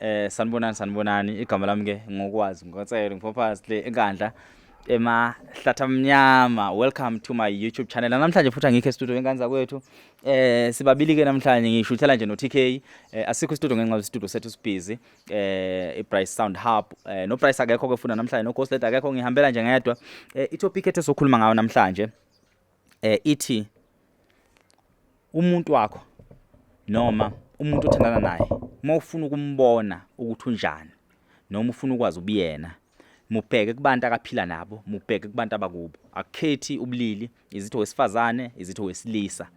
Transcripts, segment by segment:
Eh sanibonani sanibonani igama lami ke ngokwazi ngotselo ngiphophas le enkandla emahlathi amnyama welcome to my youtube channel namhlanje futhi angikho estudio enkanza kwethu eh sibabili ke namhlanje ngishuthela nje no TK eh, asikho istudio ngenxa yestudio sethu sibhizi eh iBright Sound Hub eh no Price akekho ke funa namhlanje no Ghost Leader akekho ngihambela nje ngedwa eh itopic ethu sokhuluma ngayo namhlanje eh ithi umuntu wakho noma umuntu othandana naye uma ufuna ukumbona ukuthi unjani noma ufuna ukwazi ubuyena mubheke kubantu akaphila nabo mubheke kubantu abakubo akukhethi ubulili izitho wesifazane izitho wesilisa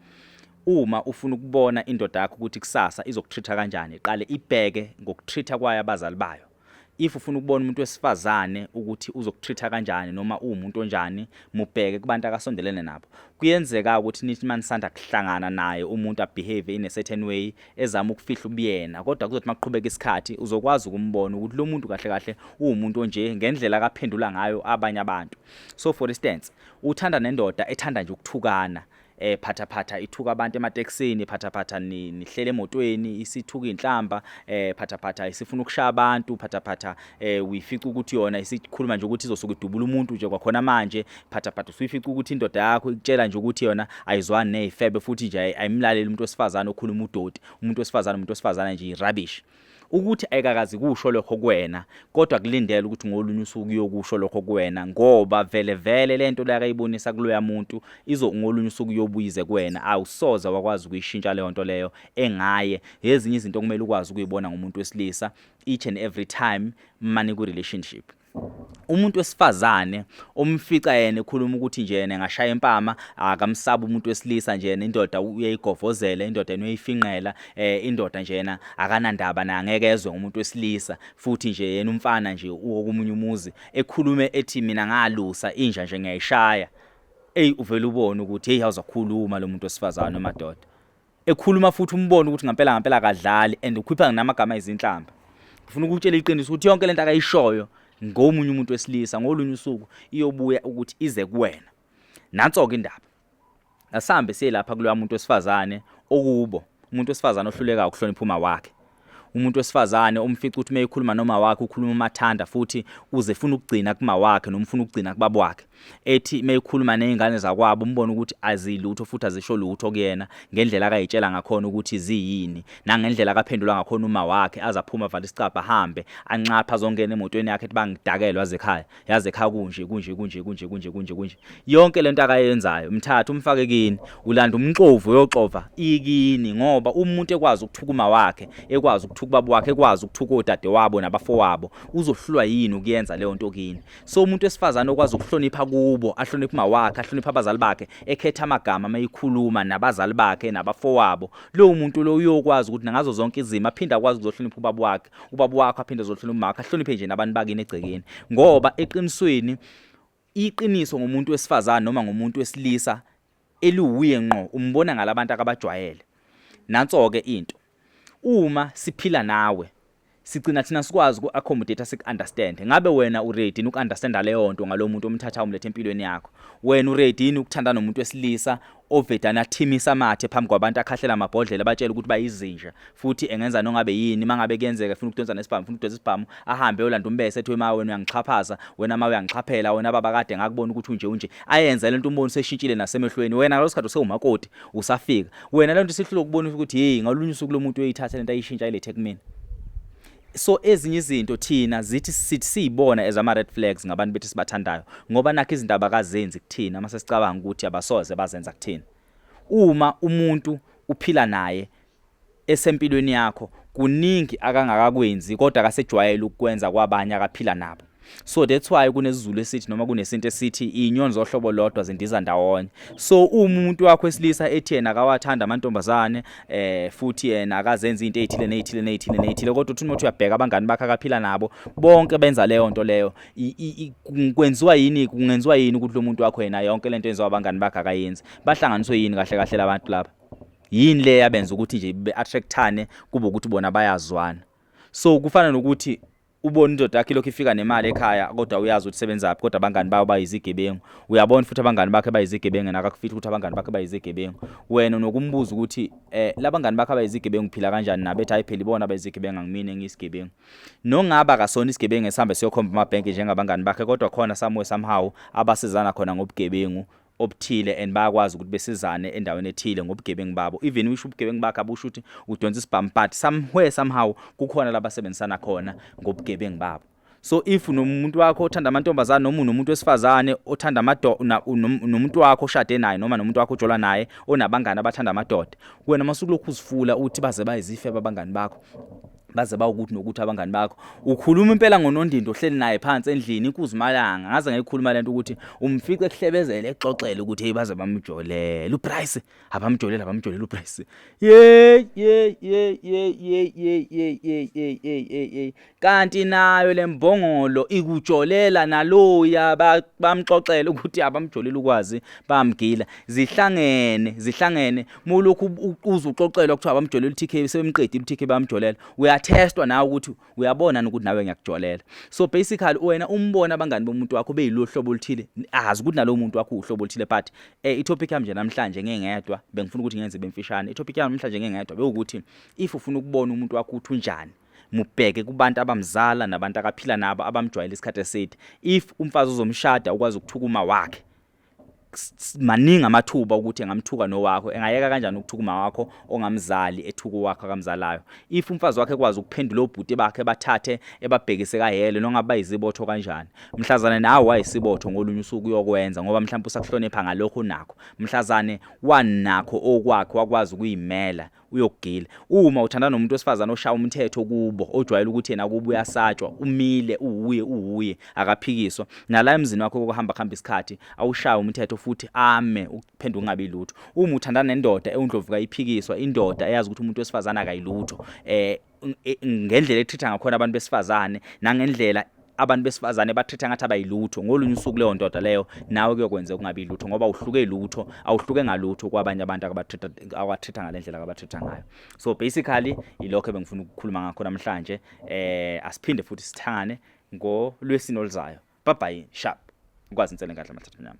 uma ufuna ukubona indoda yakho ukuthi kusasa izokutreat kanjani iqale ibheke ngokutreat kwayo abazali bayo if ufuna ukubona umuntu wesifazane ukuthi uzokutreat-a kanjani noma uwumuntu onjani mubheke kubantu akasondelene nabo kuyenzeka ukuthi nithi uma nisanda kuhlangana naye umuntu abehave in a certain way ezama ukufihla ubuyena kodwa kuzothi maqhubeka isikhathi uzokwazi ukumbona ukuthi lo muntu kahle kahle uwumuntu onje ngendlela akaphendula ngayo abanye abantu so for instance uthanda nendoda ethanda nje ukuthukana eh phathaphatha ithuka abantu emateksini phathaphatha nihlele emotweni isithuka inhlamba eh phathaphatha isifuna ukushaya abantu phathaphatha eh uyifica ukuthi yona isikhuluma nje ukuthi izosuka idubula umuntu nje kwakhona manje phathaphatha usuyifica ukuthi indoda yakho ikutshela nje ukuthi yona ayizwani nezifebe futhi nje ayimlaleli umuntu wesifazane okhuluma udoti umuntu wesifazane umuntu wesifazane nje rubbish ukuthi ayikakazi kusho lokho kuwena kodwa kulindele ukuthi ngolunye usuku uyokusho lokho kuwena ngoba vele vele lento le akayibonisa kuloya muntu izo ngolunye usuku uyobuyize kuwena awusoze wakwazi ukuyishintsha leyo nto leyo engaye ezinye izinto kumele ukwazi ukuyibona ngomuntu wesilisa each and every time mani ku relationship umuntu wesifazane umfica yena ekhuluma ukuthi nje yena engashaya impama akamsaba umuntu wesilisa nje yena indoda uyayigovozela indoda yena uyayifinqela eh indoda nje yena akanandaba naye angeke ezwe umuntu wesilisa futhi nje yena umfana nje uwokumunye umuzi ekhulume ethi mina ngalusa inja nje ngiyayishaya eyi uvela ubone ukuthi hey awuzakhuluma lo muntu wesifazane madoda ekhuluma futhi umbone ukuthi ngampela ngampela akadlali and ukhipha nginamagama ezinhlamba ngifuna ukutshela iqiniso ukuthi yonke lento akayishoyo ngomunye umuntu wesilisa ngolunye usuku iyobuya ukuthi ize kuwena nanso ke indaba asambe siye lapha kuloya muntu wesifazane okubo umuntu wesifazane ohluleka ukuhlonipha uma wakhe umuntu wesifazane umfica ukuthi uma ekhuluma noma wakhe ukhuluma umathanda futhi uze funa ukugcina kuma wakhe noma ufuna ukugcina kubaba wakhe ethi uma ekhuluma nezingane zakwabo umbona ukuthi azilutho futhi azisho lutho kuyena ngendlela akayitshela ngakhona ukuthi ziyini nangendlela akaphendula ngakhona uma wakhe azaphuma vale isicabha ahambe anxapha zongena emotweni yakhe ethi bangidakelwa zekhaya yaze kha kunje kunje kunje kunje kunje kunje kunje yonke lento akayenzayo mthatha umfake kini ulanda umxovu uyoxova ikini ngoba umuntu ekwazi ukuthuka uma wakhe ekwazi ukuthuka ubaba wakhe ekwazi ukuthuka odade wabo nabafowabo uzohlulwa yini ukuyenza leyo nto kini so umuntu wesifazane okwazi ukuhlonipha kubo ahloniphe uma wakhe ahloniphe abazali bakhe ekhetha amagama amayikhuluma nabazali bakhe nabafowabo lowo muntu lo uyokwazi ukuthi nangazo zonke izimo aphinde akwazi ukuzohlonipha ubaba wakhe ubaba wakho aphinde ezohlula umakho ahloniphe nje nabantu bakini egcekeni ngoba eqinisweni iqiniso ngomuntu wesifazane noma ngomuntu wesilisa eliwuye ngqo umbona ngalabantu akabajwayele nanso-ke into uma siphila nawe sigcina thina sikwazi uku-accommodate siku-understand ngabe wena uready uku-understanda leyo nto ngalowo muntu omthatha umlethe empilweni yakho wena uready yini ukuthanda nomuntu wesilisa ovedane athimise amathe phambi kwabantu akhahlela amabhodlela batshela ukuthi bayizinja futhi engenza nongabe yini mangabe kuyenzeka funa ukudonsa nesibhamu funa ukudonsa isibhamu ahambe yolanda umbese ethi wema wena uyangixhaphaza wena ma uyangixhaphela wena baba kade ngakubona ukuthi unje unje ayenze lento umboni seshintshile nasemehlweni wena ngalo sikhathi usewumakoti usafika wena lento sihlule ukubona ukuthi hey ngalunye usuku lomuntu uyithatha lento ayishintsha ilethe kumina so ezinye izinto thina zithi sithi siyibona as ama red flags ngabantu bethi sibathandayo ngoba nakho izinto abakazenzi kuthina uma sesicabanga ukuthi abasoze bazenza kuthina uma umuntu uphila naye esempilweni yakho kuningi akangakakwenzi kodwa akasejwayele ukukwenza kwabanye akaphila nabo so that's why kunesizulu esithi noma kunesinto esithi inyoni zohlobo lodwa zindiza ndawonye so umuntu wakho esilisa ethi yena akawathanda amantombazane eh futhi yena akazenza into ezithile nezithile nezithile nezithile kodwa uthi umuntu uyabheka abangani bakhe akaphila nabo bonke benza leyo nto leyo kwenziwa yini kungenziwa yini ukuthi lo muntu wakho yena yonke lento yenziwa abangani bakhe akayenzi bahlanganiswe yini kahle kahle labantu laba yini le yabenza ukuthi nje be attractane kube ukuthi bona bayazwana so kufana nokuthi ubona indoda yakhe lokhu ifika nemali ekhaya kodwa uyazi ukuthi sebenzaphi kodwa abangani bayo bayizigebengu uyabona futhi abangani bakhe bayizigebengu yena akakufithi ukuthi abangani bakhe bayizigebengu wena nokumbuza ukuthi eh labangani bakhe bayizigebengu phila kanjani nabe ethi ayipheli bona bayizigebengu angimini engiyisigebengu nongaba kasona isigebengu esihambe siyokhomba amabhenki njengabangani bakhe kodwa khona samuwe somehow abasizana khona ngobugebengu obuthile and bayakwazi ukuthi besizane endaweni ethile ngobugebengu babo even wisho ubugebengu bakhe abusho ukuthi udonsa isibhamu but somewhere somehow kukhona labasebenzisana khona ngobugebengu babo so if nomuntu wakho othanda amantombazane noma unomuntu wesifazane othanda amadoda nomuntu wakho oshade naye noma nomuntu wakho ojola naye onabangani abathanda amadoda wena masukulokhu uzifula uthi baze bayizife babangani bakho baze bawukuthi nokuthi abangani bakho ukhuluma impela ngonondindi ohleli naye phansi endlini inkuzimalanga ngaze ngayikhuluma lento ukuthi umfice ekuhlebezela exoxela ukuthi hey baze bamjolele uprice abamjolele abamjolele uprice yey yey yey yey yey yey yey yey yey yey kanti nayo lembongolo ikujolela naloya bamxoxela ukuthi abamjolele ukwazi bamgila zihlangene zihlangene mulokhu uquza uxoxelwa kuthiwa abamjolela uTK sebemqedile uTK bayamjolela uyatestwa nawe ukuthi uyabona ukuthi nawe ngiyakujolela so basically wena umbona abangani bomuntu wakho beyilohlobo oluthile azi ukuthi nalowo muntu wakho uhlobo oluthile but eh itopic yami nje namhlanje ngengedwa bengifuna ukuthi ngenze bemfishane itopic yami namhlanje ngengedwa bewukuthi if ufuna ukubona umuntu wakho uthi unjani mubheke kubantu abamzala nabantu akaphila nabo abamjwayele isikhathi eside if umfazi uzomshada ukwazi ukuthukuma wakhe maningi amathuba ukuthi engamthuka nowakho engayeka kanjani ukuthuka uma wakho ongamzali ethuka wakho akamzalayo if umfazi wakhe ekwazi ukuphendula obhuti bakhe bathathe ebabhekise kahele nongabe bayizibotho kanjani mhlazane nawe wayisibotho ngolunye usuku uyokwenza ngoba mhlawumbe usakuhlonipha ngalokho nakho mhlazane wanakho okwakhe wakwazi ukuyimela uyokugila uma uthanda nomuntu osifazana oshaya umthetho kubo ojwayele ukuthi yena kubo uyasatshwa umile uwuye uwuye akaphikiswa nala emzini wakho kokuhamba khamba isikhathi awushaya umthetho futhi ame ukuphendula ungabi lutho uma uthanda nendoda ewundlovuka iphikiswa indoda eyazi ukuthi umuntu wesifazana akayilutho eh e, ngendlela ethitha ngakhona abantu besifazane nangendlela abantu besifazane bathetha ngathi abayilutho ngolunye usuku leyo ndoda leyo nawe kuyokwenza ukungabi lutho ngoba uhluke lutho awuhluke ngalutho kwabanye abantu akabathetha awathetha ngalendlela akabathetha ngayo so basically ilokho ebengifuna ukukhuluma ngakho namhlanje eh asiphinde futhi sithangane ngolwesini oluzayo bye bye sharp ukwazi insele ngadla mathatha nyama